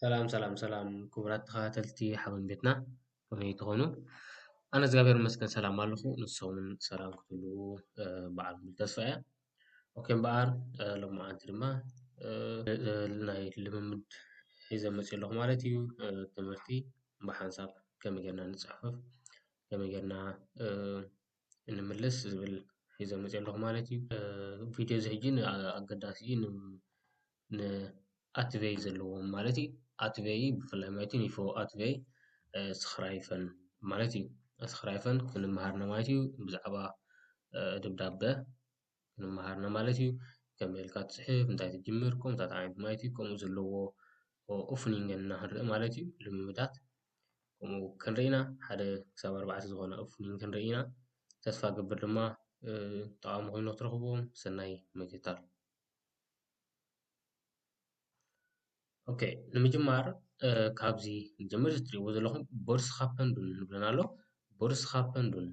ሰላም ሰላም ሰላም ክቡራት ተኸታተልቲ ሓበን ቤትና ከመይ ትኾኑ? ኣነ እግዚኣብሔር ይመስገን ሰላም ኣለኹ። ንሶምን ሰላም ክትህልዉ በዓል ሙሉ ተስፋ እያ። ኦኬ እምበኣር ሎማዓንቲ ድማ ናይ ልምምድ ሒዘ መፅእ ኣለኹ ማለት እዩ። ትምህርቲ ብሓንሳብ ከመይ ጌርና ንፅሕፍ ከመይ ጌርና ንምልስ ዝብል ሒዘ መጺኤ ኣለኹ ማለት እዩ። ቪድዮ እዚ ሕጂ ኣገዳሲ እዩ ንኣትቬይ ዘለዎም ማለት እዩ። ኣትቬይ ብፍላይ ማለት እዩ ኒፎ ኣትቬይ ስክራይፈን ማለት እዩ። ስክራይፈን ክንመሃር ኢና ማለት እዩ ብዛዕባ ደብዳበ ንመሃርና ማለት እዩ። ከመይ ኢልካ ትጽሕፍ፣ እንታይ ትጅምር፣ ከምኡታት ዓይነት ማለት እዩ። ከምኡ ዘለዎ ኦፍኒንገን እና ክንርኢ ማለት እዩ። ልምምዳት ከምኡ ክንርኢ ኢና። ሓደ ክሳብ ኣርባዕተ ዝኾነ ኦፍኒንግ ክንርኢ ኢና። ተስፋ እገብር ድማ ጠቓሚ ኮይኑ ክትረኽብዎም። ሰናይ ምክትታል። ኦኬ ንምጅማር ካብዚ ንጀምር እዚ ትሪእዎ ዘለኹም ቦርስኻፐንዱን ዝብለና ኣሎ ቦርስኻፐንዱን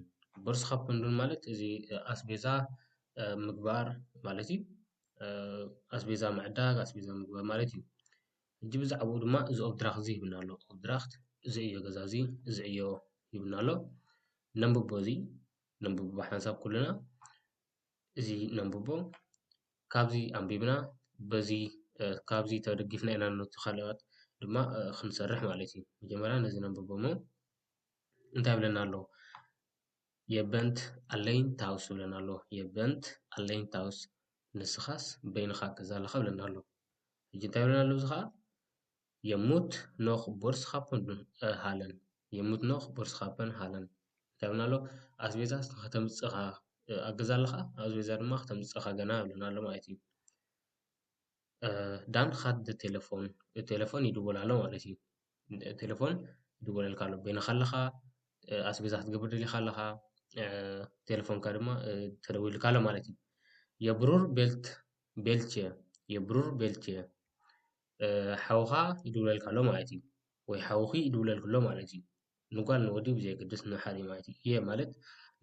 ቦርስኻፐንዱን ማለት እዚ ኣስቤዛ ምግባር ማለት እዩ ኣስቤዛ ምዕዳግ ኣስቤዛ ምግባር ማለት እዩ ሕጂ ብዛዕብኡ ድማ እዚ ኦብድራኽ እዚ ይብለና ኣሎ ኦብድራኽት እዚ ዕዮ ገዛ እዚ እዚ ዕዮ ይብለና ኣሎ ነንብቦ እዚ ነንብቦ ሓንሳብ ኩልና እዚ ነንብቦ ካብዚ ኣንቢብና በዚ ካብዚ ተደጊፍና ኢና ነቲ ካልኣት ድማ ክንሰርሕ ማለት እዩ። መጀመርያ ነዚ ነንብቦ እሞ እንታይ ይብለና ኣሎ Ihr Bennt allein zu Hause ይብለና ኣሎ Ihr Bennt allein zu Hause ንስኻስ በይንኻ ኣብ ገዛ ኣለኻ ይብለና ኣሎ። ሕጂ እንታይ ይብለና ኣሎ እዚ ከኣ Je moet nog boodschappen doen halen Je moet nog boodschappen halen እንታይ ይብለና ኣሎ ኣስቤዛ ከተምጽእ ኢኻ ኣብ ገዛ ኣለኻ ኣስቤዛ ድማ ከተምጽእ ኢኻ ገና ይብለና ኣሎ ማለት እዩ ዳን ካት ደ ቴለፎን ቴለፎን ይድወል ኣሎ ማለት እዩ ቴለፎን ይድወለልካ ኣሎ በይንኻ ኣለኻ ኣስቤዛ ክትገብር ደሊኻ ኣለኻ ቴለፎንካ ድማ ተደዊልካ ኣሎ ማለት እዩ የብሩር ቤልት ቤልቼ የብሩር ቤልቼ ሓውኻ ይድውለልካ ኣሎ ማለት እዩ ወይ ሓውኺ ይድውለልክ ኣሎ ማለት እዩ። ንጓል ንወዲ ብዘየገድስ ንሓደ ማለት እዩ። እየ ማለት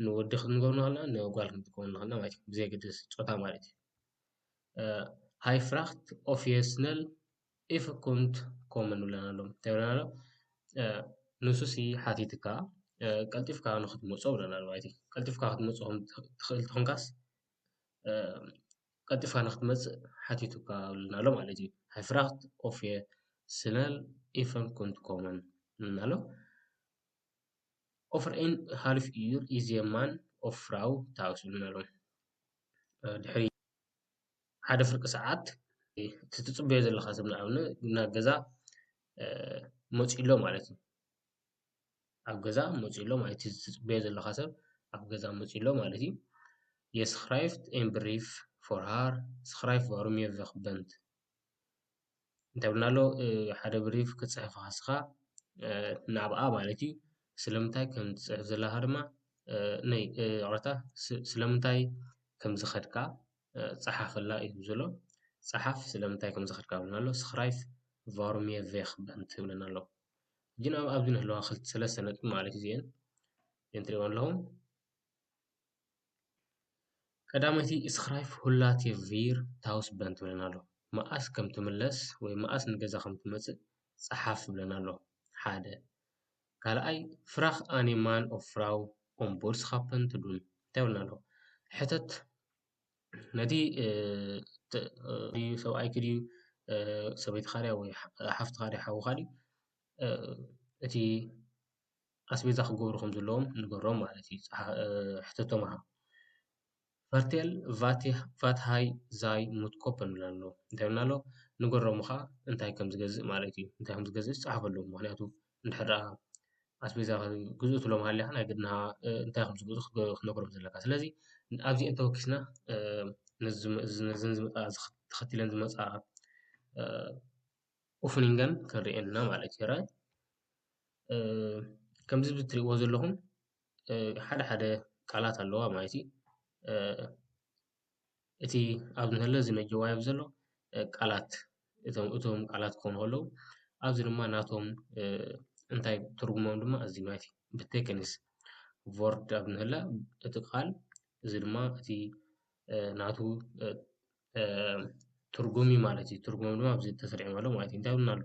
ንወዲ ክንገብር ንኽእልና ንጓል ክንጥቀም ንኽእልና ማለት እዩ። ብዘየገድስ ጾታ ማለት እዩ። ሃይ ፍራክት ኦፊየስነል ኢፍኩንት ኮመን ብለና ኣሎ እንታይ ብለና ኣሎ ንሱሲ ሓቲትካ ቀልጢፍካ ንክትመጾ ብለና ኣሎ ማለት እዩ። ቀልጢፍካ ክትመጾ ትኽእል ተኾንካስ ቀልጢፋ ንክትመጽእ ሓቲቱካ ኣብልና ኣሎ ማለት እዩ። ሃይ ፍራክት ኦፌ ስነል ኢፈን ኩንት ኮመን እልና ኣሎ። ኦፈር ኤን ሃልፍ ዩር ኢዝ ኤ ማን ኦፍ ፍራው ታውስ እልና ኣሎ። ድሕሪ ሓደ ፍርቂ ሰዓት እቲ ትፅበዮ ዘለካ ሰብ ንኣብነት ናብ ገዛ መፂኡ ኣሎ ማለት እዩ። ኣብ ገዛ መፅዩ ኣሎ ማለት እዩ። እቲ ትፅበዮ ዘለኻ ሰብ ኣብ ገዛ መፅዩ ኣሎ ማለት እዩ። የስ ክራይስት ኤንድ ብሪፍ ፎር ሃር ስክራይብ ፎርም ዮር ዘክበንት እንታይ ይብለና ኣሎ ሓደ ብሪፍ ክትፅሕፍ ንስኻ ንዓኣ ማለት እዩ። ስለምንታይ ከምትፅሕፍ ዘለኻ ድማ ነይ ይቅረታ ስለምንታይ ከምዝኸድካ ፀሓፈላ እዩ ዝብል ዘሎ። ፀሓፍ ስለምንታይ ከምዝኸድካ ይብለና ኣሎ። ስክራይብ ቫርም ዮር ዘክበንት ይብለና ኣሎ። ሕጂ ናብ ኣብዚ ንህለዋ ሰለስተ ነጥቢ ማለት እዩ እዚኤን እዘን ትሪእዋ ኣለኹም ቀዳመይቲ እስክራይፍ ሁላቴ ቪር ታውስ በን ትብለና ኣሎ መኣስ ከም ትምለስ ወይ መኣስ ንገዛ ከም ትመፅእ ፀሓፍ ትብለና ኣሎ ሓደ ካልኣይ ፍራኽ ኣኔማን ኦፍራው ኦምቦርስኻፐን ትዱን እንታይ ይብለና ኣሎ ሕተት ነቲ ሰብኣይኪ ድዩ ሰበይትኻ ድያ ወይ ሓፍትኻ ድያ ሓውኻ ድዩ እቲ ኣስቤዛ ክገብሩ ከም ዘለዎም ንገሮም ማለት እዩ። ሕተቶም ሃብ። ፋርቴል ቫት ሃይ ዛይ ሙት ኮፐን ይብላ ኣሎ። እንታይ ይብሉና ኣለዉ ንገሮም እኻ እንታይ ከም ዝገዝእ ማለት እዩ። እንታይ ከም ዝገዝእስ ጸሓፈሎም ምኽንያቱ እንድሕር ደኣ ኣስቤዛ ግዝኡ ትብሎም ሃሊኻ ናይ ግድን እንታይ ከም ዝገዝኡ ክትነግሮም ዘለካ። ስለዚ ኣብዚኤን ተወኪስና ነዘን ዝመጻ ተኸቲለን ዝመጻ ኦፍኒንገን ክንርእየን ኢና ማለት እዩ። ራይት ከምዚ ብትርእይዎ ዘለኹም ሓደ ሓደ ቃላት ኣለዋ ማለት እዩ። እቲ ኣብዚ ዘሎ እዚ ነጀዋይ ኣብዚ ዘሎ ቃላት እቶም እቶም ቃላት ክኾኑ ከለዉ ኣብዚ ድማ ናቶም እንታይ ትርጉሞም ድማ እዚ ማለት እዩ። ብቴክኒስ ቮርድ ኣብ እንሀለ እቲ ቃል እዚ ድማ እቲ ናቱ ትርጉም እዩ ማለት እዩ። ትርጉም ድማ ኣብዚ ተሰሪዖም ኣለዉ ማለት እዩ። እንታይ እውን ኣሎ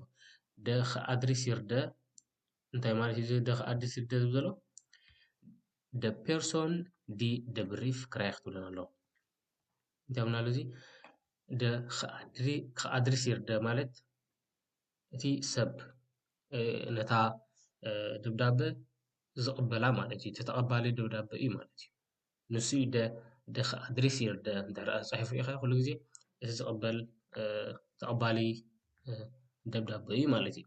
ደ ክኣድሪሲርደ እንታይ ማለት እዩ እዚ ደ ክኣድሲርደ ዝብል ዘሎ? ደ ፔርሶን ዲ ደ ብሪፍ ክራይኽ ትብለን ኣሎ እንታይ ብና ኣሎ እዚ ደ ክኣድሪሲር ደ ማለት እቲ ሰብ ነታ ደብዳበ ዝቕበላ ማለት እዩ ተተቐባሊ ደብዳበ እዩ ማለት እዩ ንሱ እዩ ደ ደኽ ኣድሪስ ይርደ እንተ ጻሒፉ ኢኸ ኩሉ ግዜ እቲ ዝቕበል ተቐባሊ ደብዳበ እዩ ማለት እዩ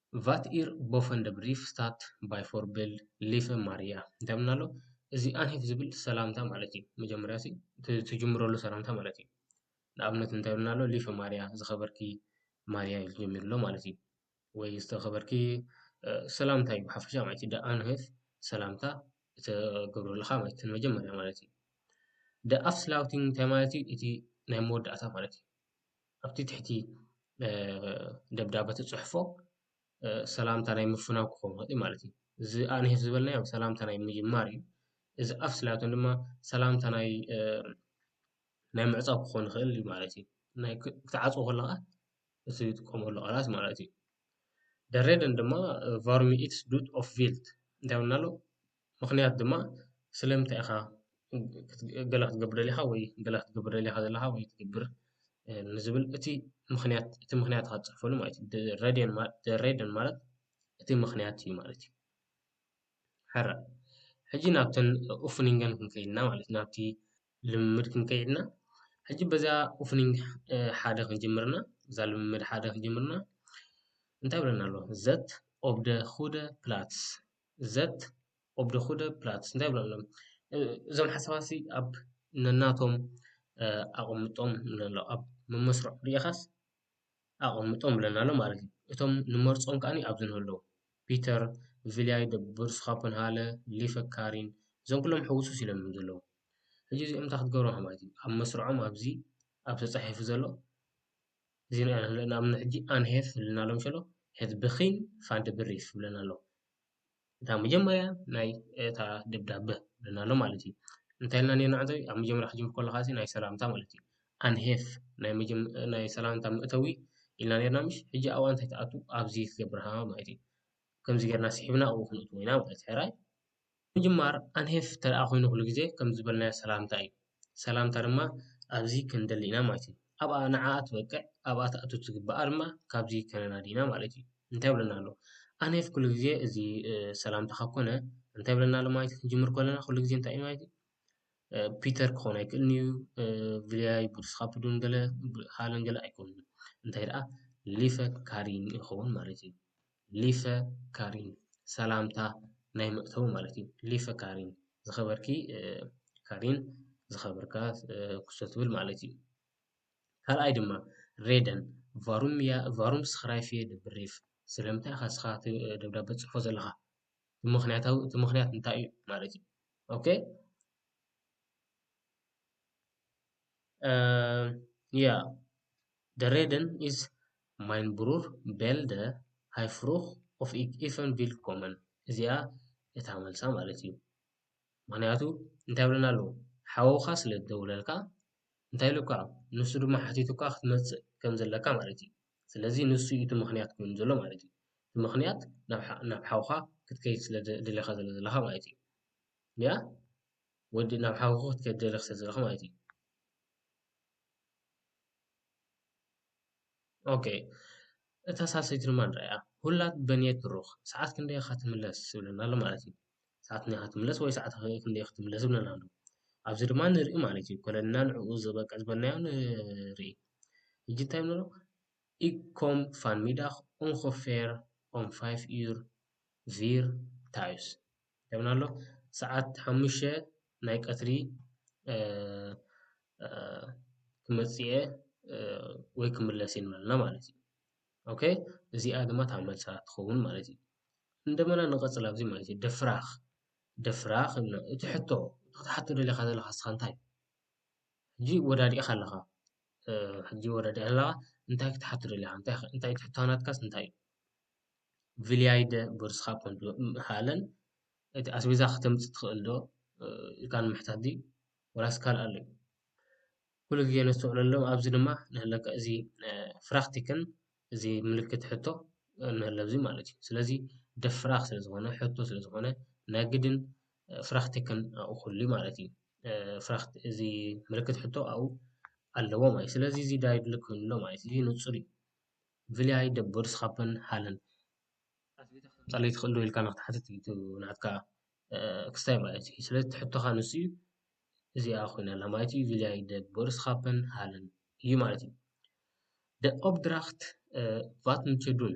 ቫት ኢር ቦፈንደ ብሪፍ ስታት ባይ ፎርቤልድ ሊፈ ማርያ እንታይ ምና ኣሎ እዚ ኣንሄፍ ዝብል ሰላምታ ማለት እዩ መጀመርያ ሲ ትጅምረሉ ሰላምታ ማለት እዩ ንኣብነት እንታይ ምና ኣሎ ሊፈ ማርያ ዝኸበርኪ ማርያ ኢሉ ጀሚሩ ኣሎ ማለት እዩ ወይ ዝተኸበርኪ ሰላምታ እዩ ሓፈሻ ማለት እዩ ደኣንህፍ ሰላምታ እተገብረልኻ ማለት እዩ መጀመርያ ማለት እዩ ደኣፍስላውቲንግ እንታይ ማለት እዩ እቲ ናይ መወዳእታ ማለት እዩ ኣብቲ ትሕቲ ደብዳበ ትጽሕፎ ሰላምታ ናይ ምፍናው ክኸውን ይኽእል እዩ ማለት እዩ። እዚ ኣንሄፍ ዝበልናዮ ሰላምታ ናይ ምጅማር እዩ። እዚ ኣፍ ስላቶን ድማ ሰላምታ ናይ ናይ ምዕጻው ክኾን ይኽእል እዩ ማለት እዩ። ናይ ክትዓጽዎ ከለኻ እቲ ትጥቀመሉ ቃላት ማለት እዩ። ደሬደን ድማ ቫርሚ ኢትስ ዱት ኦፍ ቪልት እንታይ ይብለና ኣሎ? ምኽንያት ድማ ስለምንታይ ኢኻ ገለ ክትገብር ደሊኻ ወይ ገለ ክትገብር ደሊኻ ዘለኻ ወይ ትገብር ንዝብል እቲ ምኽንያት እቲ ምኽንያት ኢኻ ትጽሕፈሉ ማለት እዩ። the reason ማለት the reason ማለት እቲ ምኽንያት እዩ ማለት እዩ። ሕራ ሕጂ ናብተን ኡፍኒንገን ክንከይድና ማለት እዩ ናብቲ ልምምድ ክንከይድና ሕጂ በዛ ኡፍኒንግ ሓደ ክንጅምርና እዛ ልምምድ ሓደ ክንጅምርና እንታይ ብለና ኣሎ ዘት ኦብ ደ ሁደ ፕላትስ ዘት ኦብ ደ ኩደ ፕላትስ እንታይ ይብሉ ኣለዉ እዞም ሓሳባት እዚ ኣብ ነናቶም ኣቐምጦም ንብሎ ኣለዉ ኣብ መመስርዖ ርኢኻስ ኣቐምጦም ብለና ኣሎ ማለት እዩ እቶም ንመርጾም ከኣ ኣብዚ ንህልዉ ፒተር ቪልያይ ደ ብርስኻፐንሃለ ሊፈ ካሪን እዞም ኩሎም ሕውስውስ ኢሎም እዮም ዘለዉ ሕጂ እዚኦም እንታይ ክትገብሮም ማለት እዩ ኣብ መስርዖም ኣብዚ ኣብ ተጻሒፉ ዘሎ እዚ ንሪኦ ዘለና እምኒ ሕጂ ኣንሄፍ ዝብለና ኣሎ ሸሎ ሐዚ ብኺን ፋንድብሪፍ ዝብለና ኣሎ። እታ መጀመርያ ናይ እታ ደብዳበ ዝብለና ኣሎ ማለት እዩ። እንታይ ኢልና ኔርና ዕዘቢ ኣብ መጀመርያ ክትጅምር ከለኻ እዚ ናይ ሰላምታ ማለት እዩ። ኣንሄፍ ናይ መጀመ ናይ ሰላምታ መእተዊ ኢልና ኔርና ምሽ ሕጂ ኣብኣ እንታይ ትኣቱ ኣብዚ ክገብርሃ ማለት እዩ። ከምዚ ጌርና ስሒብና ኣብኡ ክንእትዎ ኢና ማለት እዩ። ሕራይ ንምጅማር ኣንሄፍ ተደኣ ኮይኑ ኩሉ ግዜ ከም ዝበልናዮ ሰላምታ እዩ። ሰላምታ ድማ ኣብዚ ክንደሊ ኢና ማለት እዩ። ኣብኣ ንዓኣ ትበቅዕ ኣብኣ ትኣቱ ትግብኣ ድማ ካብዚ ከነናዲ ኢና ማለት እዩ። እንታይ ይብለና ኣሎ ኣንሄፍ ኩሉ ግዜ እዚ ሰላምታ ካብ ኮነ እንታይ ይብለና ኣሎ ማለት እዩ ክንጅምር ከለና ኩሉ ግዜ እንታይ እዩ ማለት እዩ ፒተር ክኸውን ኣይክእልን እዩ ቪልያይ ቡድስኻፕዱን ገለ ሃለን ገለ ኣይኮኑን እዩ። እንታይ ደኣ ሊፈ ካሪን ይኸውን ማለት እዩ። ሊፈ ካሪን ሰላምታ ናይ መእተዊ ማለት እዩ። ሊፈ ካሪን ዝኸበርኪ ካሪን ዝኸበርካ ኩሶ ትብል ማለት እዩ። ካልኣይ ድማ ሬደን ቫሩም እያ ቫሩም ስክራይፍ እየ ድብሪፍ ስለምንታይ ኢኻ እስኻ እቲ ደብዳቤ ትጽሕፎ ዘለኻ ምክንያታዊ እቲ ምክንያት እንታይ እዩ ማለት እዩ ኦኬ ያ The Reden ist mein Bruder Bälde, Hei Frucht of ich Ifen Willkommen እዚኣ እታ መልሳ ማለት እዩ። ምክንያቱ እንታይ ይብለና ኣሎ ሓውካ ስለ ዝደውለልካ እንታይ ኢሉካ ንሱ ድማ ሓቲቱካ ክትመጽእ ከም ዘለካ ማለት እዩ። ስለዚ ንሱ እዩ እቲ ምክንያት ኮይኑ ዘሎ ማለት እዩ። እቲ ምክንያት ናብ ሓ- ናብ ሓውካ ክትከይድ ስለ ደሊኻ ስለ ዘለኻ ማለት እዩ። ያ ወዲ ናብ ሓውካ ክትከይድ ደሊኽ ስለ ዘለኻ ማለት እዩ። ኦኬ እታ ሳልሰይቲ ድማ ንርኣያ ሁላት በንየት ብሩኽ ሰዓት ክንደይ ኢኻ ትምለስ ዝብለና ኣሎ ማለት እዩ ሰዓት ክንደይ ኢኻ ትምለስ ወይ ሰዓት ክንደይ ኢኻ ትምለስ ዝብለና ኣሎ ኣብዚ ድማ ንርኢ ማለት እዩ ኮለልና ንዕኡ ዝበቅዕ ዝበልናዮ ንርኢ ሕጂ እንታይ ንብሎ ik kom vanmiddag ongeveer om vijf uur vier thuis ይብለና ኣሎ ሰዓት ሓሙሽተ ናይ ቀትሪ ክመፅእ እየ ወይ ክምለስ እየ ንበለና ማለት እዩ። ኦኬ እዚኣ ድማ እታ መልሳ ትኸውን ማለት እዩ። እንደገና ንቐፅል ኣብዚ ማለት እዩ ድፍራኽ ድፍራኽ ኢልና እቲ ሕቶ እቲ ክትሓቶ ደሊኻ ዘለኻ ንስኻ እንታይ እዩ ሕጂ ወዳዲእኻ ኣለኻ ሕጂ ወዳዲእኻ ኣለኻ እንታይ ክትሓቶ ደሊኻ እንታይ እንታይ ትሕቶ ናትካስ እንታይ እዩ? ቪልያይ ደ ቦርስካ ኮንዶ ምሃለን እቲ ኣስቤዛ ከተምጽ ትክእል ዶ ኢልካ ንምሕታት ድዩ ወላስ ካልእ ኣሎ ዩ ኩሉ ግዜ ነስተውዕለሎም ኣብዚ ድማ ንህለካ እዚ ፍራክቲክን እዚ ምልክት ሕቶ ንህለ እዚ ማለት ዩ ስለዚ ደፍራክ ስለ ዝኮነ ሕቶ ስለ ዝኮነ ናይ ግድን ፍራክቲክን ኣብኡ ክህሉ ዩ ማለት ዩ ፍራክት እዚ ምልክት ሕቶ ኣብኡ ኣለዎ ማለት ዩ ስለዚ እዚ ዳይ ድልክ ክህሉ ኣለዎ ማለት ዩ እዚ ንጹር ዩ። ብፍላይ ዶ ቦርስካፐን ሃለን ኣፍሊጦ ከምጻለይ ትክእል ዶ ኢልካ ንክትሓትት እዩ እቲ ናትካ ክስታይ ማለት እዩ። ስለዚ እቲ ሕቶካ ንሱ እዩ እዚኣ ኮይና ኣላ ማለት እዩ ቪልያይ ዶ ቦርስካፐን ሃለን እዩ ማለት እዩ። ደ ኦብድራክት ቫት ንቸ ዱን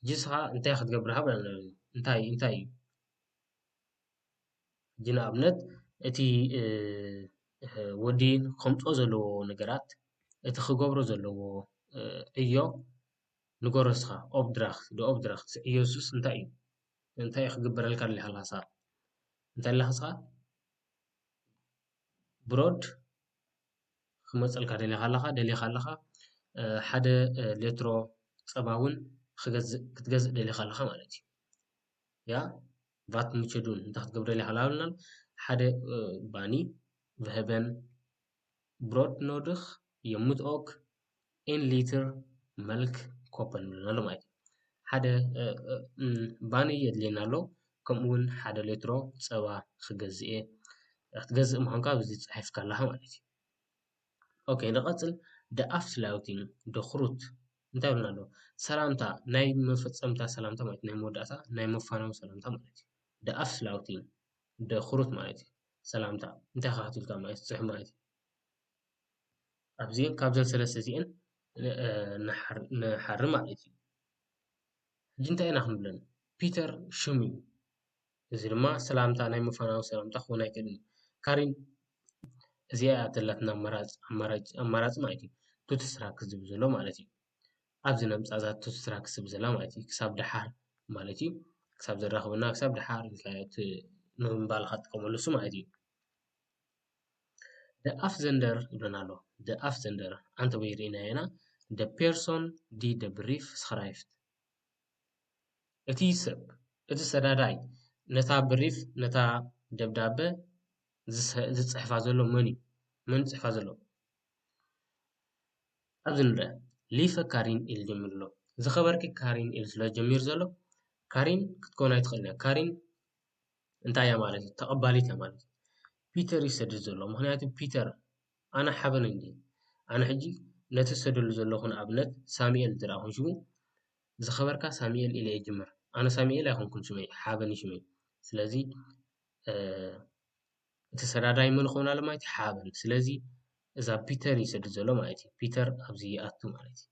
ሕጂ ንስካ እንታይ ክትገብር ሃብ ኣለና ማለት እዩ እንታይ እንታይ እዩ። ሕጂ ንኣብነት እቲ ወዲ ከምፆ ዘለዎ ነገራት እቲ ክገብሮ ዘለዎ ዕዮ ንገሮ እስኻ ኦብድራክት the obdract ዕዮ ንሱስ እንታይ እዩ? እንታይ እዩ ክግበረልካ ደሊኻ ንስኻ? እንታይ ኣለኻ ንስኻ ብሮድ ክመፀልካ ደሊኻ ኣለኻ ደሊኻ ኣለኻ ሓደ ሌትሮ ፀባ እውን ክትገዝእ ደሊኻ ኣለኻ ማለት እዩ። ቫትምቸዱን እንታይ ክትገብረለይ ሃላብልናል ሓደ ባኒ ቨሀበን ብሮድ ኖድኽ የሙት ኦክ ኤን ሊትር መልክ ኮፐን ንብለን ኣሎ ማለት እዩ ሓደ ባኒ የድልየና ኣሎ ከምኡ እውን ሓደ ሌትሮ ፀባ ክገዝእ እየ ክትገዝእ ምዃንካ ኣብዚ ፅሒፍካ ኣለኻ ማለት እዩ። ኦኬ ንቐጽል ደኣፍላውቲን ደኽሩት እንታይ ይብሉና ኣለዉ ሰላምታ ናይ መፈጸምታ ሰላምታ ማለት ናይ መወዳእታ ናይ መፋነዊ ሰላምታ ማለት እዩ ደኣፍላውቲን ደኽሩት ማለት እዩ ሰላምታ እንታይ ካህትልካ ማለት ጽሕ ማለት እዩ ኣብዚን ካብዘን ሰለስተ እዚአን ንሓሪ ማለት እዩ ሕጂ እንታይ ኢና ክንብለን ፒተር ሽሙ እዩ እዚ ድማ ሰላምታ ናይ ምፋናዊ ሰላምታ ክኸውን ኣይክእልን እዩ። ካሪን እዚኣ እያ ዘላትና ኣማራጽ ኣማራጭ ኣማራጽ ማለት እዩ። ቱቲ ስራክ ዝብል ዘሎ ማለት እዩ። ኣብዚ ነምጻ እዛ ቱቲ ስራክ ዝብል ዘላ ማለት እዩ። ክሳብ ደሓር ማለት እዩ። ክሳብ ዘራኽበና ክሳብ ደሓር ኢልካዮ እቲ ንምባልኻ ትጥቀመሉ እሱ ማለት እዩ። ደ ኣፍ ዘንደር ይብለና ኣሎ። ደ ኣፍ ዘንደር ኣንተ ወይ ርኢና ኢና ደ ፔርሶን ዲ ደ ብሪፍ ስክራይፍት እቲ ሰብ፣ እቲ ሰዳዳይ ነታ ብሪፍ፣ ነታ ደብዳበ ዝጽሕፋ ዘሎ መን እዩ? መን እዩ ዝጽሕፋ ዘሎ? ኣብዚ ንርኣ ሊፈ ካሪን ኢሉ ጀሚሩ ኣሎ። ዝኸበርኪ ካሪን ኢሉ ስለ ጀሚሩ ዘሎ ካሪን ክትከውን ኣይትኽእልን እያ። ካሪን እንታይ እያ ማለት እዩ? ተቐባሊት እያ ማለት እዩ። ፒተር እዩ ዝሰድድ ዘሎ ምኽንያቱ ፒተር ኣነ ሓበን እንድየ ኣነ ሕጂ ነቲ ዝሰደሉ ዘለኩ ንኣብነት ሳሚኤል እንተ ኮይኑ ሽሙ ዝከበርካ ሳሚኤል ኢለ ይጅምር ኣነ ሳሚኤል ኣይኮንኩን ሽመይ ሓበን እዩ ሽመይ ስለዚ እቲ ሰዳዳይ መን ክኸውን ኣሎ ማለት እዩ ሓበን ስለዚ እዛ ፒተር እዩ ዝሰድድ ዘሎ ማለት እዩ ፒተር ኣብዚ ይኣቱ ማለት እዩ።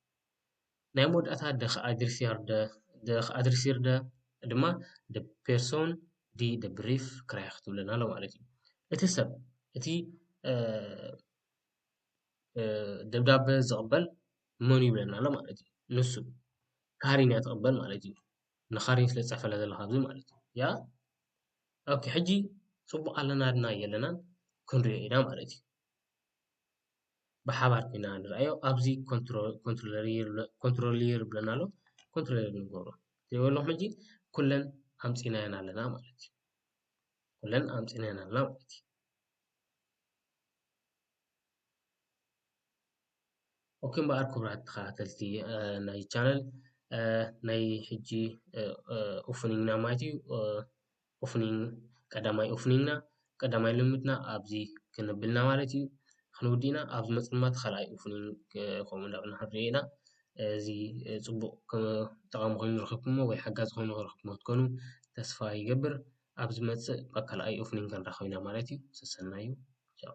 ናይ መወዳእታ ደኽ ኣድሪሲያርደ ደኽ ኣድሪሲርደ ድማ ደ ፔርሶን ዲ ደ ብሪፍ ክራያ ክትብለና ኣሎ ማለት እዩ። እቲ ሰብ እቲ ደብዳበ ዝቕበል መን እዩ ይብለና ኣሎ ማለት እዩ። ንሱ ካሪን እያ ትቕበል ማለት እዩ። ንካሪን ስለ ዝጸሕፈላ ዘሎ ካብዚ ማለት እዩ። ያ ኦኬ ሕጂ ጽቡቕ ኣለና ድና የለናን ክንሪኦ ኢና ማለት እዩ። ብሓባር ኮይና ንርኣዮ ኣብዚ ኮንትሮሊየር ይብለና ኣሎ ኮንትሮሊየር ንገብሮ ዘይበሉ ሕጂ ኩለን ኣምጺናየን ኣለና ማለት እዩ ኩለን ኣምጺናየን ኣለና ማለት እዩ ኦኬ እምበኣር ክቡራት ተኸታተልቲ ናይ ቻነል ናይ ሕጂ ኦፍኒንግና ማለት እዩ ኦፍኒንግ ቀዳማይ ኦፍኒንግና ቀዳማይ ልምምድና ኣብዚ ክንብል ኢና ማለት እዩ። ክንውድእ ኢና ኣብ ዝመጽእ ድማ እቲ ካልኣይ ኦፍኒንግ ከምኡ እንዳበልና ክንርእዮ ኢና። እዚ ጽቡቕ ጠቓሚ ኮይኑ ረኺብኩምዎ ወይ ሓጋዚ ኮይኑ ረኺብኩምዎ ክትኮኑ ተስፋ ይገብር። ኣብ ዝመጽእ ኣብ ካልኣይ ኦፍኒንግ ክንራኸብ ኢና ማለት እዩ። ሰሰናዩ ቻው።